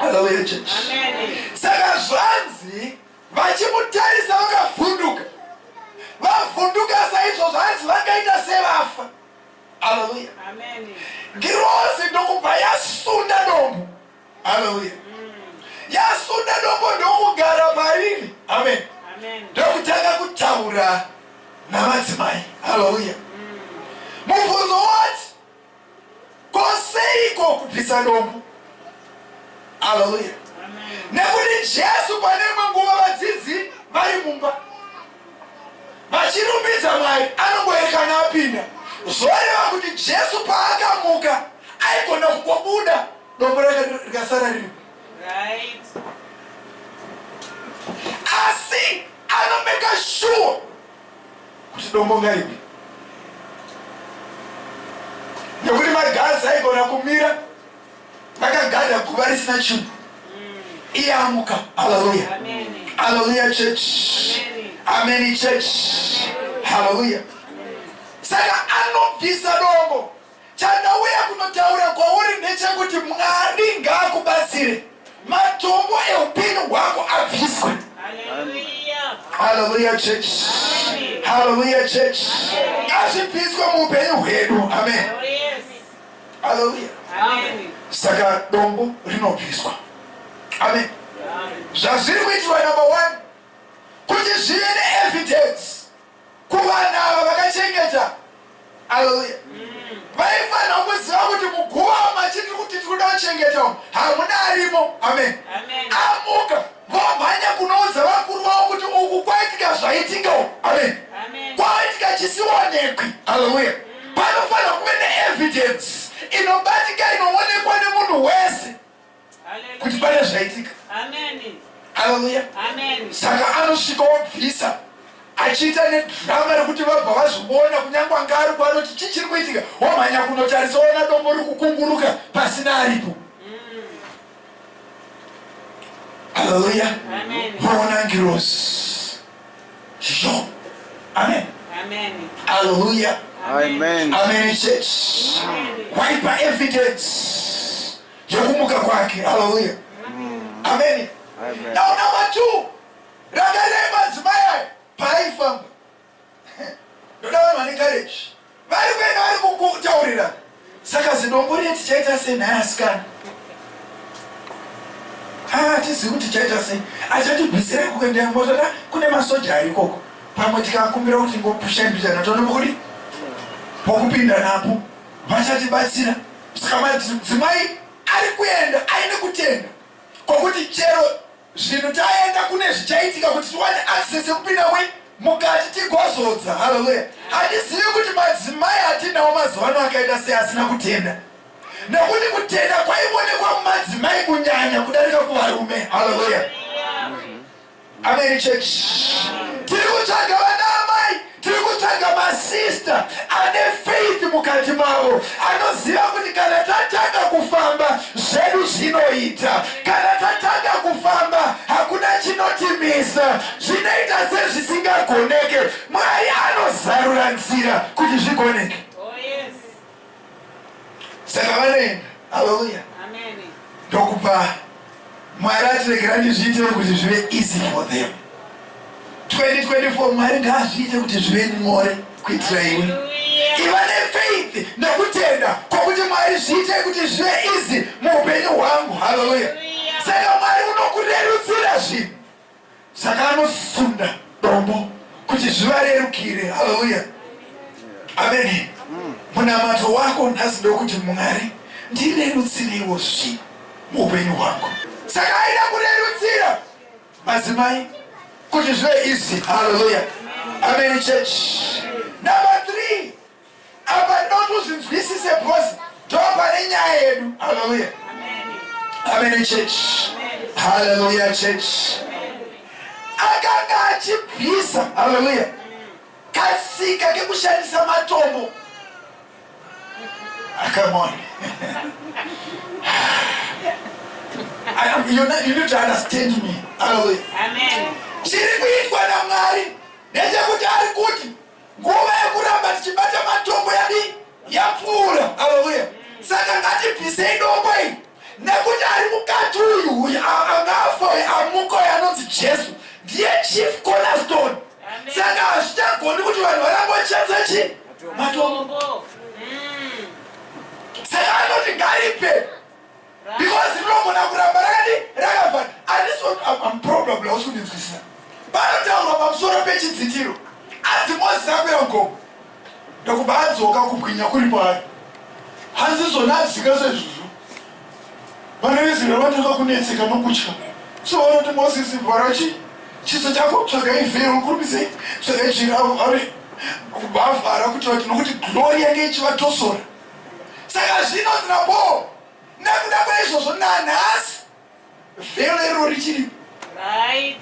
Hallelujah church. Saka zvanzi vachimutarisa vakavhunduka. Vavhunduka saizvo zvanzi vakaita sevafa. Hallelujah. Amen. Girozi ndokubva yasunda dombo. Hallelujah. Yasunda dombo ndokugara pariri. Amen. Ndokutanga kutaura namadzimai. Hallelujah. Mubvunzo wati koseiko kupisa dombo? Hallelujah. Nekuti Jesu pane imwe nguva vadzidzi vari mumba vachirumbidza Mwari anongoerekana apinda zvoreva kuti Jesu paakamuka aigona kungobuda Dombo rake rikasara riri. Right. Asi anomeka shuwa kuti dombo ngaripi. Nekuti maganzi aigona kumira vakagada guva risina chinhu. Mm. Iye amuka. Haleluya. Haleluya church. Amen church. Haleluya. Saka anobvisa dombo. Chandauya kunotaura kwauri ndechekuti Mwari ngaakubatsire matombo eupenyu hwako abviswe. Hallelujah church. Hallelujah church. Ngazvibviswe muupenyu hwedu. Amen. Hallelujah. Amen. Saka dombo rinobviswa. Amen. Zvazviri kuitwa number one kuti zvive neevidence Kuvanhu ava vakachengeta, Haleluya, vaifanirwa kuziva kuti muguva umu matiri kuti tiri kuda kuchengeta umu hamuna arimo. Amen. Amuka, vomhanya kunoudza vakuru vavo kuti uku kwaitika zvaitika uku. Amen. Kwaitika chisionekwi. Haleluya. Panofanirwa kuve neevidence inobatika inoonekwa nemunhu wese. kuti pane zvaitika haleluya saka anosvika wabvisa achiita nedrama rekuti vabva vazviona kunyange anga ari kwanoti chii chiri kuitika wamhanya kunotarisa ona dombo riri kukunguruka pasina aripo haleluya voona ngirosi zvo amen haleluya amen church waipa evidence yekumuka kwake haleluya ameni now number two rangarirei madzimai aya paaifamba ndoda vanhu vane courage vari kuenda vari kukutaurira saka zidombo riye tichaita sei nhaya asikana hatizivi kuti tichaita sei achatibvisirei kuenda motata kune masoja ari ikoko pamwe tikakumbira kuti ngopushaimbichana tonombokudi pokupinda napo vachatibatsira Saka madzimai ari kuenda aine kutenda kwokuti chero zvinhu taenda kune zvichaitika kuti tiwane access yekupinda mui mukati tigozodza. Haleluya! Handizivi kuti madzimai atinawo mazuva ano akaita sei asina kutenda, nekuti kutenda kwaivonekwa mumadzimai kunyanya kudarika kuvarume. Haleluya! Amen church. Tiri kutsvaga vana amai, tiri kutsvaga masista ane faith mukati mavo, anoziva kuti kana tatanga kufamba zvedu zvinoita, kana tatanga kufamba hakuna chinotimisa, zvinoita sezvisingagoneke. Mwari anozarura nzira kuti zvigoneke. saka vanoenda haleluya ndokupa mwari atiregera ndizviite kuti zvive easy for them 2024 mwari ngaazviite kuti zvive nyore kuitira iwe iva nefaith nekutenda kwokuti mwari zviite kuti zvive easy muupenyu hwangu haleluya saka mwari unokurerutsira zvinhu Saka anosunda dombo kuti zvivarerukire. Haleluya. Ameni. Munamato wako nhasi ndokuti Mwari ndirerutsireiwo zvi muupenyu hwangu. Saka aida kurerutsira madzimai kuti zvive easy. Haleluya. Ameni church. Number three, Apa ndinoda kuti uzvinzwisise because ndopane nyaya yedu. Hallelujah. Amen church. Hallelujah church. Akanga achibvisa. Hallelujah. Kasika kekushandisa matombo. Ah, come on. I am, you, know, you need to understand me. Hallelujah. Amen. Chiri kuitwa naMwari ndechekuti ari kuti Nguva yekuramba tichibata matombo yadii? Yapfuura. Haleluya. Saka ngatibvisei dombo iri nekuti ari mukati uyu uyu anga afa uyu amuka uyu anonzi Jesu ndiye chief cornerstone. Saka hazvichagoni kuti vanhu varambe vachishandisa chii? Matombo. Saka anoti ngaripe. Because rinogona kuramba rakadi rakavhara arisi am probably hausi kundinzwisisa panotaurwa pamusoro pechidzitiro anzi Moses akwira mugomo ndokubva adzoka kubwinya kuri kwaari hanzi zvona adzika sezvizvo vana veizrael vanotoka kunetseka nokutya so vanoti Moses vhara chi chiso chako tsvagai vhero kurumisei tsvagai jira vhare kubva avhara kuti vati nokuti glori yange ichivatosora Saka zvino zina bhoo nekuda kweizvozvo nanhasi vhelo iriro richiripo. Right.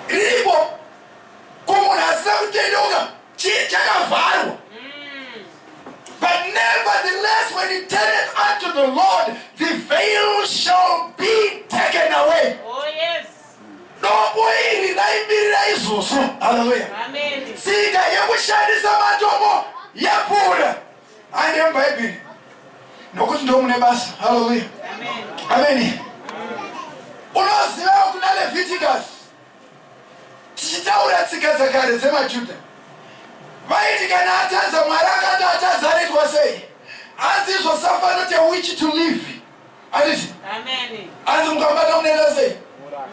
Riripo. Ko munhu asina kutendeuka chii chakavharwa? Mm. But nevertheless when he turneth unto the Lord the veil shall be taken away. Oh yes. Dombo iri raimirira izvozvo. Haleluya. Tsika yekushandisa matombo yabuda hande muBhaibheri nokuti ndo mune basa. Haleluya. Ameni. Unoziva kuna Leviticus tichitaura tsika dzakare dzemaJuda vaiti kana atadza mwari akati atadza anoitwa sei hanzi izvo safano te which to live Handiti? Hanzi mukabata unoita sei?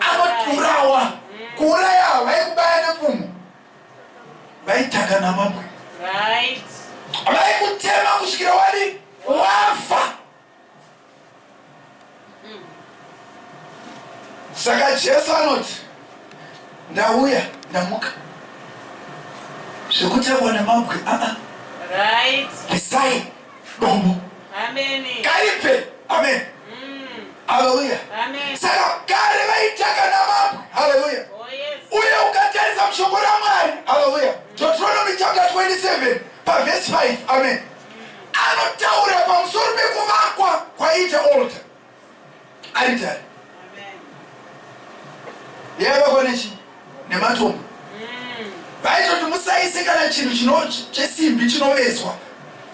Anotiurawa. Kuuraya ava vaikubaya nepfumo. Vaitaka namabwe. Vaikutema kusvikira wadi wafa. Saka Jesu anoti ndauya ndamuka zvekutakwa nemabwe aa. Right. Beside. dombo kaibve amen haleluya saka kare vaitaka namabwe haleluya oh, uye ukatarisa mushoko ramwari haleluya deuteronomy chapter 27 pavhesi 5 amen anotaura pamusoro pekuvakwa kwaiita olta aritari yavakwa nechi nematombo vaitoti musaise kana chinhu chesimbi chinovezwa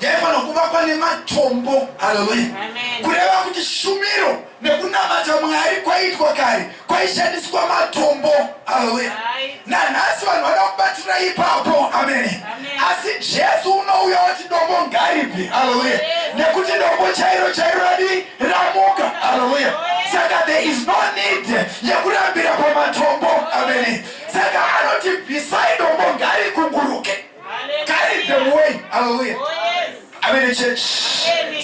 yaifanira kuvakwa nematombo haleluya kureva kuti shumiro nekunamata mwari kwaitwa kare kwaishandiswa matombo haleluya nanhasi vanhu vada kubatirira ipapo amene asi jesu unouya wati dombo ngaripi haleluya nekuti dombo chairo chairo radi ramuka haleluya saka there is no need yekurambira pamatombo amene saka anoti bvisai dombo ngarikunguruke carry them away hallelujah oh, amene church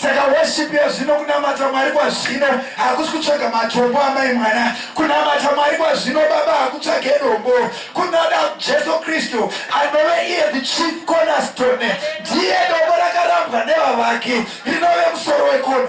saka worship yazvino kunamata mwari kwazvino hakusi kutsvaga matombo amai mwana kunamata mwari kwazvino baba hakutsvage dombo kunoda jesu kristu anove iye the chief cornerstone ndiye dombo rakarambwa nevavaki rinove musoro wekona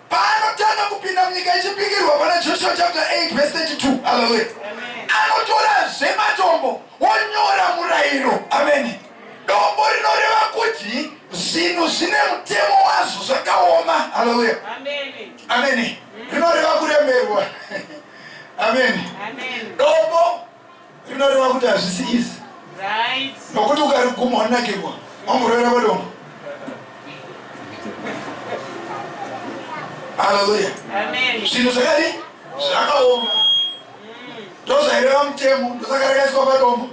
Paanotanga kupinda munyika yechipikirwa pana Joshua chapter 8 verse 32. Hallelujah. Anotorazve matombo wonyora murayiro. Amen. Dombo rinoreva kuti zvinhu zvine mutemo wazvo zvakaoma. Hallelujah. Amen. Rinoreva kuremerwa. Amen. Dombo rinoreva kuti hazvisi izi nokuti ukariguma wanakirwa wamborovera padombo haleluya zvinhu zvakadi zvakaoma ndozvaireva mutemo ndosakarakaiswa padombo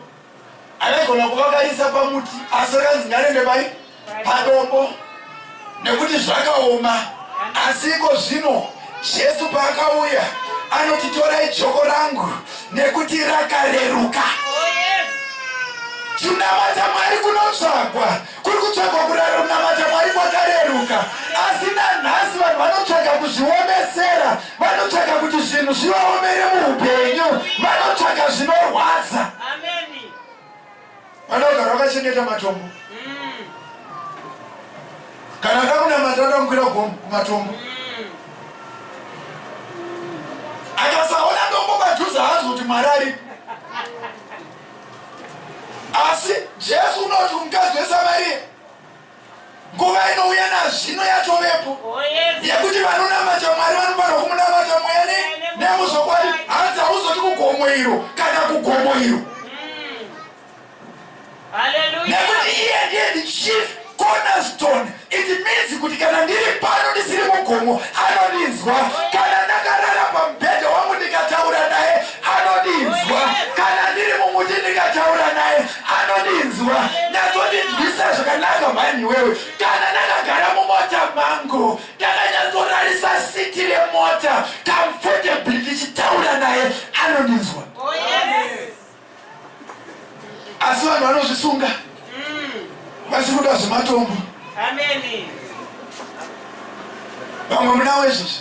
aigona kuvakarisa pamuti asi rakanzi ngarende pai padombo nekuti zvakaoma asi iko zvino jesu paakauya anoti torai joko rangu nekuti rakareruka kunamata mwari kunotsvagwa kuri kutsvagwa kunamata mwari kwakareruka asi nanhasi vanhu vanotsvaga kuzviomesera vanotsvaga kuti zvinhu zvivaomere muupenyu vanotsvaga zvinorwadza Vana vagara vakachengeta matombo. Kana ada kunamata ada kukwira gomo kumatombo. Akasaona dombo padhuze haanzwi kuti Mwari aripo. Asi Jesu unoti kumukadzi weSamaria Nguva inouya nazvino yatovepo yekuti vanonamata Mwari vanofanirwa kumunamata mweya ne, nemuzvokwadi. Hanzi hauzoti kugomo iro kana kugomo iro, nekuti iye ndiye the chief cornerstone. It means kuti kana ndiri pano ndisiri mugomo anondinzwa, kana ndakarara pamubhedha wangu ndikataura naye anondinzwa, kana ndiri mumuti ndikataura naye anondinzwa natsondinzwisa zvakanaka mhani iwewe kana ndakagara mumota mangu ndakanyatsorarisa siti remota comfortably ndichitaura naye anondinzwa oh, asi vanhu vanozvisunga mm. vachikuda zvematombo vamwe munawo izvozvi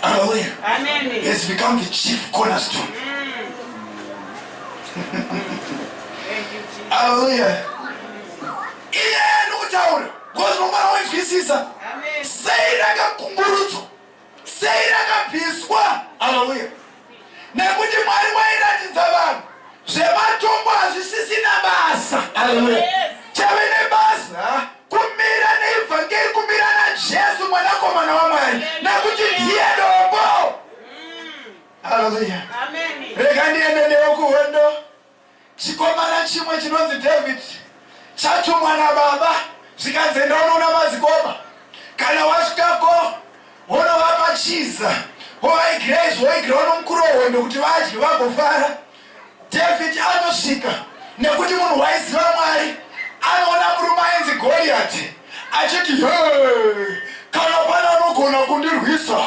Hallelujah. Amen. He has become the chief cornerstone. Hallelujah. Iye anokutaura ngozi nomwana waizwisisa sei rakakumburudzwa sei rakapiswa haleluya Nekuti Mwari wairatidza vanhu zvematongo hazvisisina basa. Hallelujah. Chave nebasa kumira neEvhangeri, kumira naJesu mwanakomana waMwari nekuti ndiye dombo. Hallelujah. Amen. Rega ndiende newe kuhondo. Chikomana chimwe chinonzi David chatumwa nababa zvikanzi enda unoona madzikoma kana wasvikako wonovapa chiza wovaigira izvi woigira unomukuru wehondo kuti vadye vagofara. David anosvika nekuti munhu waiziva Mwari anoona murume ainzi Goliati achiti hee kana pane anogona kundirwisa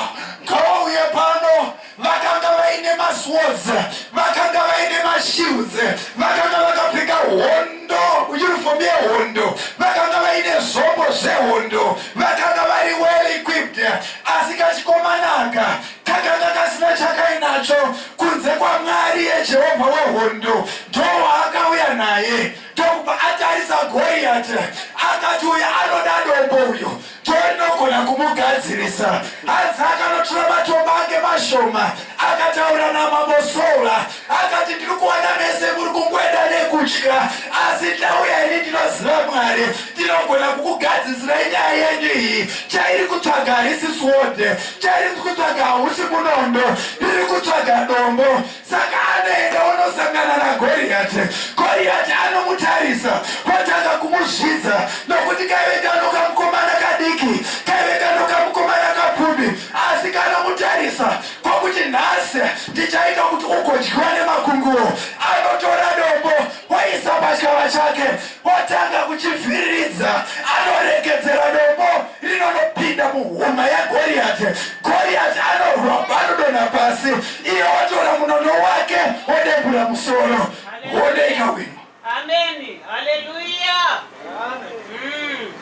ngavauye pano Vakanga vaine maswords, vakanga vaine mashields, vakanga vakapfeka hondo, uniform yehondo, vakanga vaine zvombo zvehondo, vakanga vari well equipped. Asi kachikomana aka kakanga kasina chakainacho kunze kwaMwari yeJehovha wehondo. Ndowaakauya naye ndokupa atarisa Goriati, akati, Uyu anoda dombo uyu. Joy ndogona kumugadzirisa hanzi akanotora matombo ake mashoma akataura namambo Sola akati ndiri kuona mese muri kungoenda nekutya asi ndauya ini ndinoziva Mwari ndinogona kukugadzisirai nyaya yenyu iyi chairi kutsvaga harisi sword chairi kutsvaga hausi munondo ndiri kutsvaga dombo Saka anoenda onosangana naGoriyati. Goriyati anomutarisa otanga kumuzvidza nokuti kaive kano kamukomana kadiki, kaive kano kamukomana kapfupi asi kanomutarisa kokuti nhasi ndichaita kuti ugodyiwa nemakunguwo. Anotora dombo oisa pachikava chake otanga kuchivhiriridza. Anoregedzera dombo rinonopinda muhuma yaGoriyati. Goriyati anorwa anodonha pasi. Iye otora munono wake odebura musoro wodeika wino. Ameni. Haleluya. Mm.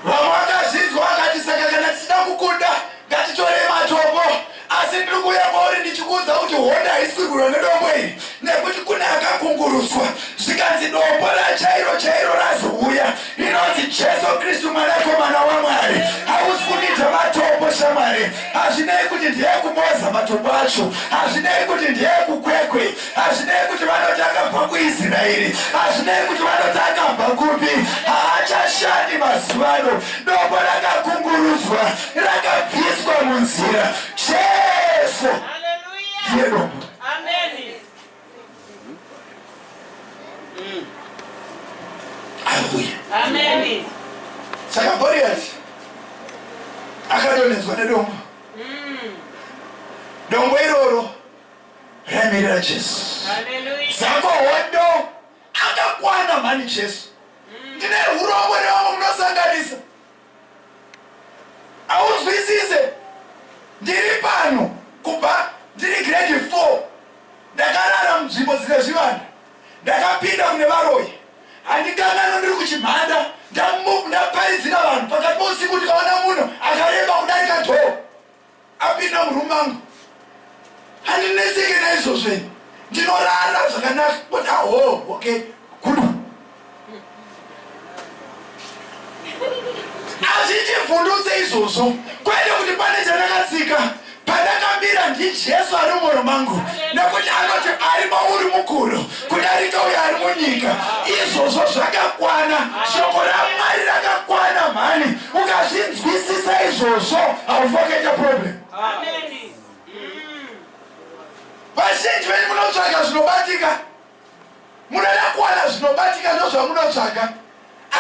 Vamwe vakazvinzwa vakati saka kana tichida kukunda ngatitorei matombo asi ndiri kuuya kwauri ndichikuudza kuti hondo haisi kurwirwa nedombo iri nekuti kune akakungurutswa zvikanzi dombo rachairo chairo razouya Ndinonzi Jesu Kristu Mwanakomana waMwari. Hausi kundidya matombo shamwari. Hazvinei kuti ndeyekuMoza matombo acho. Hazvinei kuti ndeyekuKwekwe. Hazvinei kuti vanoti akabva kuIsraeri. Hazvinei kuti vanoti akabva kupi. Haachashandi mazuva ano. Dombo rakakungurudzwa. Rakabviswa munzira. Jesu ndiye dombo. Amen. Saka Goliath akadonedzwa nedombo. Mm. Dombo iroro raimirira Jesu. Saka hondo akakwana mhani Jesu. Mm. Ndine hurombo nevamwe munosanganisa. Haunzwisise. Ndiri pano kubva ndiri grade four. Ndakarara munzvimbo dzine zvivanda. Ndakapinda kune varoyi. Handikanganwe ndiri kuChimhanda ndaparidzira vanhu pakati pousiku ndikaona munhu akareba kudarika door. apinda muroom mangu handinetseke naizvozvo ini ndinorara zvakanaka but aho okay gudu azvitivhundutse izvozvo kwete kuti pane chandakatsika pandakambira ndijesu ari mumwoyo mangu nekuti anoti ari mauri mukuru kudarika uyo ari munyika izvozvo zvakakwana shoko ramwari rakakwana mhani ukazvinzwisisa izvozvo haufoketa problem vazhinji venyu munotsvaga zvinobatika munoda kuwana zvinobatika ndozvamunotsvaga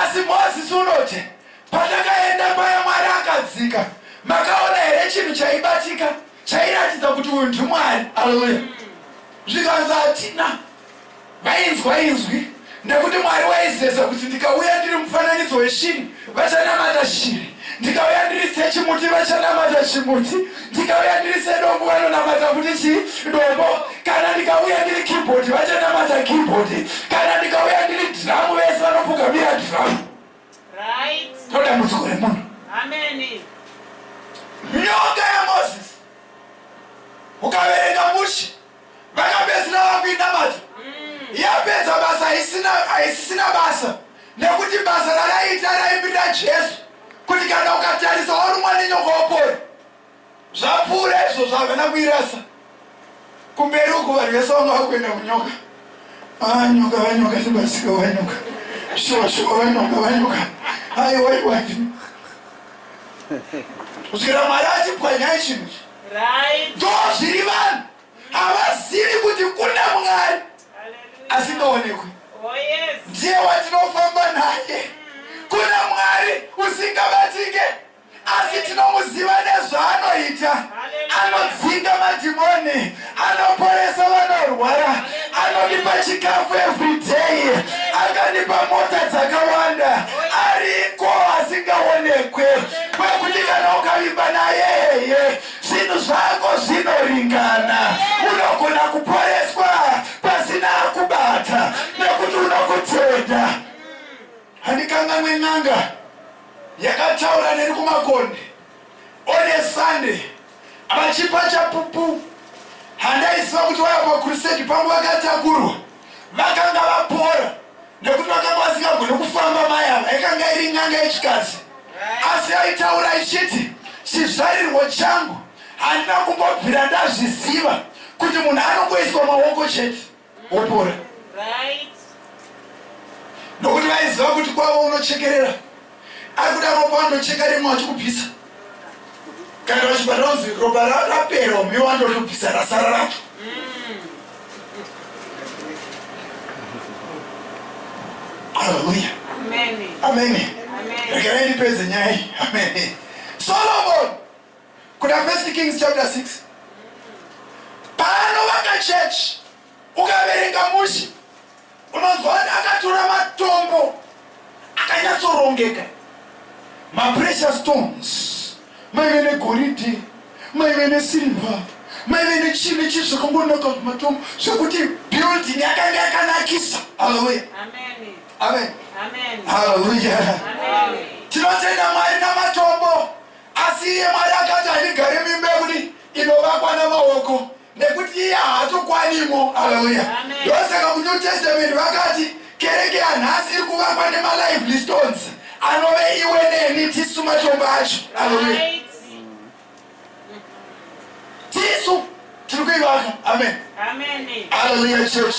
asi mozisi unoti pandakaenda paya mwari akadzika makaona here chinhu chaibatika chairatidza kuti uyu ndimwari aleluya zvikanzi hatina vainzwa inzwi nekuti mwari waizeza kuti ndikauya ndiri mufananidzo weshiri vachanamata shiri ndikauya ndiri sechimuti vachanamata chimuti ndikauya ndiri sedombo vanonamata kuti chi dombo kana ndikauya ndiri kibhodhi vachanamata kibhodhi kana ndikauya ndiri dhiramu vese vanopugamira dhiramu Right. Toda mudziko remunhu. Amen. Nyoka ya Moses. Ukaverenga mushe vakapedzisira vakuinamata. Mm. Yapedza basa haisina haisisina basa nekuti basa raraiita raimirira Jesu kuti kana ukatarisa warumwa nenyoka wapora. Zvapfuura izvozvo havana kuirasa kumberi uko vanhu vese vanga vakuenda kunyoka ah, nyoka vanyoka sebasika vanyoka shosho vanyoka vanyoka aiwaiwai kusvikira mwari achipwanyai chinhu ichi ndo zviri vanhu havazivi kuti kuna mwari asingaonekwi oh, ndiye watinofamba naye kuna mwari usingabatike Asi tinomuziva nezvaanoita, anodzinga madhimoni, anoporesa vanorwara, anondipa chikafu everyday, akandipa mota dzakawanda, ariko asingaonekwe, kwekuti kana ukavimba naye heye zvinhu zvako zvinoringana, unogona kuporeswa pasina akubata nekuti unokutenda. Handikanganwe n'anga. yakataura neni kumakonde on a Sunday vachipa chapupu. Handaiziva kuti vaiva pakurusedi pangu vakatakurwa vakanga vapora nekuti vakanga vasingagone kufamba mai ava. Yakanga iri n'anga yechikadzi asi yaitaura ichiti chizvarirwo changu handina kumbobvira ndazviziva kuti munhu anongoiswa maoko chete. wopora nokuti vaiziva kuti kwavo unochekerera ari kuda ropa andocheka rimwe achikubvisa kana vachibva ronzi ropa rapera ume wandotobvisa rasara racho haleluya amene rekerai ndipedze nyaya iyi amene solomoni Kuna First Kings chapter 6 paanovaka church ukaverenga mushe unonzwa kuti akatora matombo akanyatsorongeka maprecious stones maive negoridhe maive nesilver maive nechii nechii zvakangonaka matombo zvekuti building yakanga yakanakisa haleluya amen haleluya tinotenda mwari namatombo Asi iye Mwari akati handigare muimba yekuti inovakwa namaoko nekuti iye haatokwanimo. Haleluya. Ndosaka muNew Testament vakati kereke yanhasi iri kuvakwa nemalively stones anove iwe neni tisu matombo acho. Haleluya. Tisu. tiri kuivaka amen haleluya church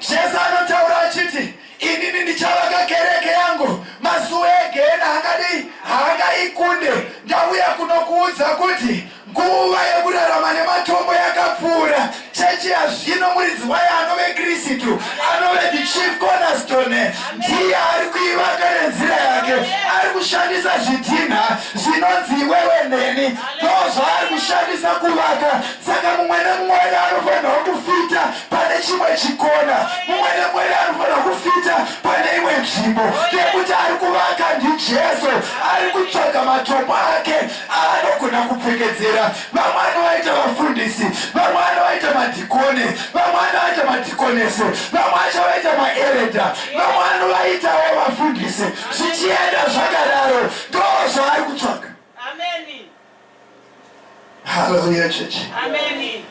jesu anotaura achiti inini ndichavaka kereke yangu mazuva egena akadii haakaikunde ndauya kunokuudza kuti nguva yekurarama nematombo yakapfuura chechi yazvino muridzi wayo anove kristu anove the chief cornerstone ndiye ari kuivaka nenzira yake ari kushandisa zvidhinha zvinonzi iwewe neni ndozvaari kushandisa kuvaka saka mumwe nemumwe wedu anofanirwa kufita pane chimwe chikona mumwe nemumwe wedu anofanirwa kufita pane imwe nzvimbo nekuti ari kuvaka ndijesu ari kutsvaga matombo ake aanogona kupfekedzera vamwe anovaita vafundisi vamwe anovaita madhikoni vamwe anovaita madhikonesi vamwe achavaita maereda vamwe anovaitawo vafundisi zvichienda zvakadaro ndozvaari kutsvaga Ameni. Hallelujah church. Ameni.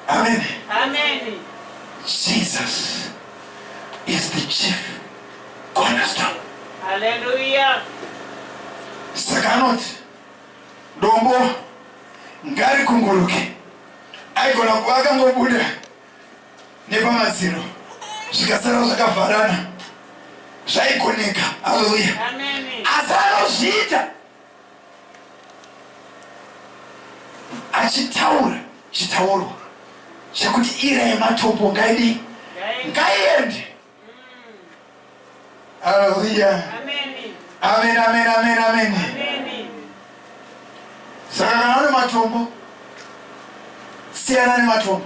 Ameni. Ameni. Jesus is the chief cornerstone. Hallelujah. Saka anoti dombo ngarikunguruke aigona kuva akangobuda nepamadziro zvikasara zvakavharana zvaigoneka haleluya asi anozviita achitaura chitaurwa chekuti ira yematombo ngaidii ngaiende haleluya amen amen amen amen saka kana une matombo siyana nematombo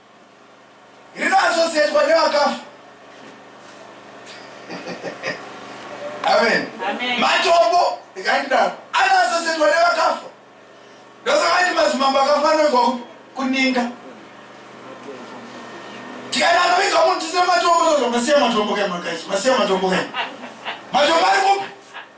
rino asosietwa nevakafa amen matombo ndikandidaro anoasosietwa nevakafa ndosakaiti mazimambo akafanoigwa kuninga tikana anoviga munhu tisina matombo tozomasiya matombo kemakaisi masiya matombo kema matombo ari kupi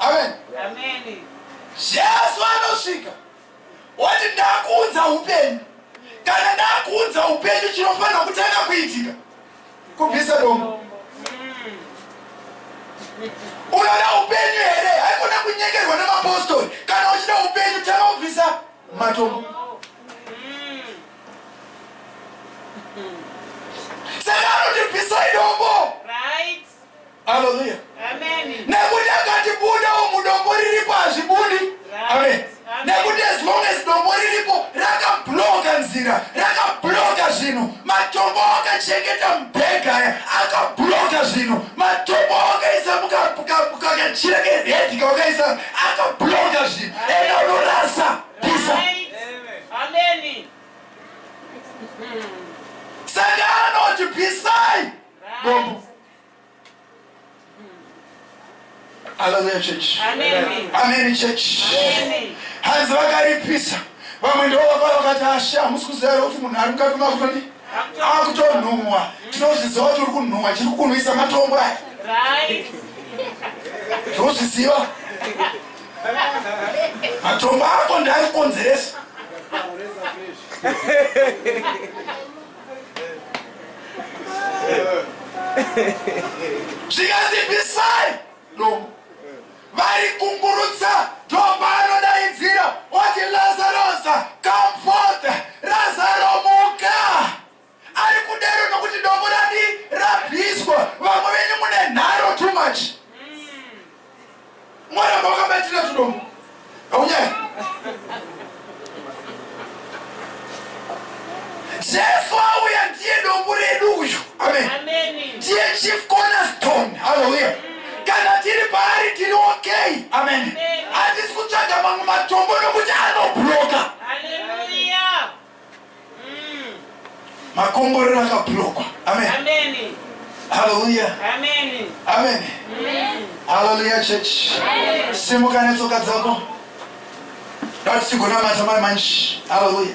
amen Amen. jesu anosvika oti ndakuunza upenyu kana ndakuunza upenyu chinofanira kutanga kuitika kubvisa dombo unoda upenyu here haikona kunyengerwa nemapostori kana uchida upenyu tanga kubvisa matombo saka anoti bvisai dombo Hallelujah. Amen. Nekuti akati buda umu dombo riripo hazvibudi. Amen. Nekuti as long as dombo riripo rakabloka nzira, rakabloka zvinhu. Matombo akachengeta mubhega aya akabloka zvinhu. Matombo akaisa mukakachira keredi kawakaisa akabloka zvinhu. Enda unorasa pisa. Amen. Saka anoti pisai. Dombo. Hallelujah church. Amen. Amen church. Amen. Hanzi vakaripisa. Vamwe ndivo vavaya vakati ashe hamusi kuziva here kuti munhu ari mukati makutodi akutonhuhwa tinozviziva kuti uri kunhuhwa chiri kunhuisa matombo aya tinozviziva matombo ako ndari kukonzeresa zvikanzi bisai no vari kungurutsa ndomba anodaidzira oti lazarosa comfort razaro muka ari kudero nokuti dombo radi rabviswa vamwe venyu mune nharo too much Mwaramba wakabatira tudomo. Haunyari. Jesu auya ndiye dombo redu uyu. Amen. Ndiye chief cornerstone. Hallelujah. Kana tiri paari tiri okay. Amen. Hatisi kutsvaga mamwe matombo nokuti anobloka. makomborero akablokwa amen haleluya amen haleluya church simuka netsoka dzako dati tigonamata mari manji haleluya